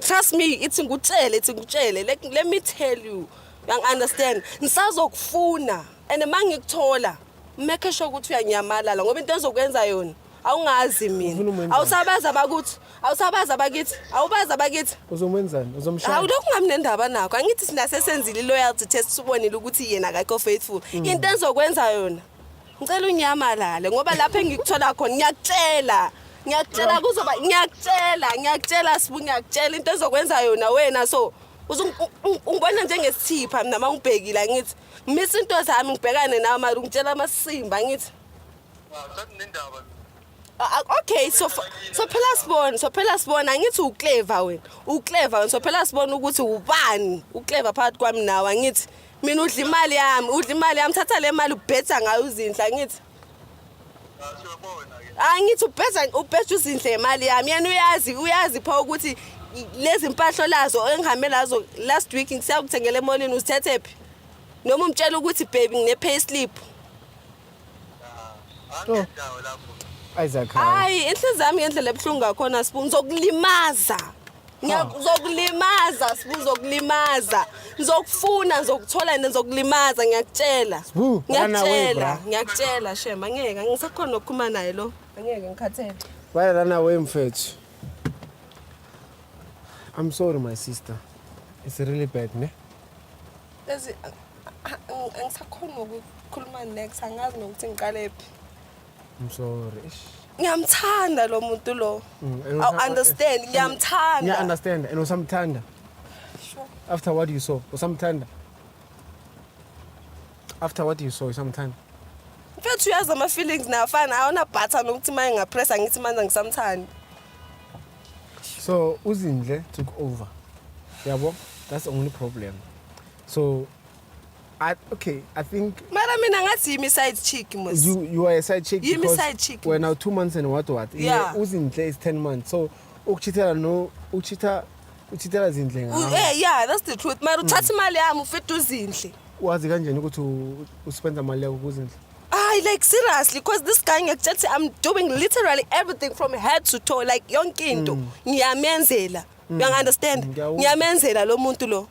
Trust me, ithi ngutshele, ithi ngutshele. Let, let me tell you. Yang understand. Ngisazokufuna and mangikuthola make sure ukuthi uyanyamalala ngoba into ezokwenza yona awungazi mina awusabazi abakuthi awusabazi abakithi awubazi abakithi uzomwenzani uzomshaya hawu lokhu ngamnendaba nakho angithi sina sesenzile loyalty test sibonile ukuthi yena akakho faithful mm. into ezokwenza yona Ngicela unyamalale ngoba lapho engikuthola khona ngiyakutshela. Ngiyakutshela kuzoba ngiyakutshela ngiyakutshela sibu ngiyakutshela into ezokwenza yona wena so ungibona njengesithipha mina uma ungibhekile ngithi ngimisa into zami ngibhekane nawe mara ungitshela amasimba ngithi sekunendaba okay so so phela sibona so phela sibona ngithi uclever wena uclever wena so phela sibona ukuthi ubani uclever phakathi kwami nawe ngithi mina udla imali yami udla imali yami thatha le mali ubhetha ngayo uzinhla ngithi angithi ubheza ubheza uzinhle imali yami yena uyazi uyazi pha ukuthi lezi mpahlo lazo engihambe lazo last week ngisakuthengele emolini uzithethephi noma umtshela ukuthi baby ngine pay slip Oh. Isaac hayi. hayi inhliziyo yami ngendlela ebuhlungu ngakhona sibu ngizokulimaza Ngiya- ngizokulimaza sibu ngizokulimaza ngizokufuna ngizokuthola and ngizokulimaza ngiyakutshela Sbu, run away, ngiyakutshela bra. ngiyakutshela shema angeke angisakhona ukukhuluma naye lo angeke ngikhathele Why run away mfethu? I'm sorry my sister. It's really bad, ne? angisakhoni nokukhuluma next angazi nokuthi ngiqalephi I'm sorry. Ngiyamthanda lo muntu lo. Mm, I understand. Ngiyamthanda. Yeah, understand. And usamthanda. Sure. After what you saw, usamthanda. After what you saw, usamthanda. Mfethu uyazi ama feelings nafana awona bhatha nokuthi maye ngapressa ngithi manje ngisamthanda. so uzindle took over yabo that's the only problem so I, okay i think mara mina ngathi yimi side chick mos you, you are a side chick yimi side chick wena two months and what what yeah. uzinhle is 10 months so ukuchithela no ukuchitha uchithela zindle ngawo eh yeah that's the truth mara uthatha mm. imali yami ufethe uzinhle wazi kanjani ukuthi uspenda imali yakho kuzinhle Ay like seriously because this guy ngiyakutshela ukuthi I'm doing literally everything from head to toe like yonke into mm. ngiyamenzela. Mm. You understand? Mm, ngiyamenzela lo muntu lo.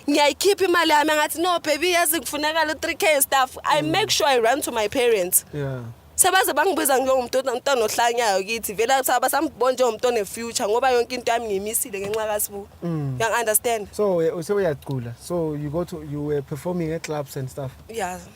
Ngiyayikhipha imali yami ngathi no baby yazi kufuneka lo 3k stuff. I make sure I run to my parents. Yeah. sebaze bangibiza njengomuntu omntwana ohlanyayo kithi vele kuthiwa basambona njengomuntu one-future ngoba yonke into yami ngiyimisile ngenxa kasibuku mm. yang-understand so eh, sewuyacula so you go to you were performing at clubs and stuff yeah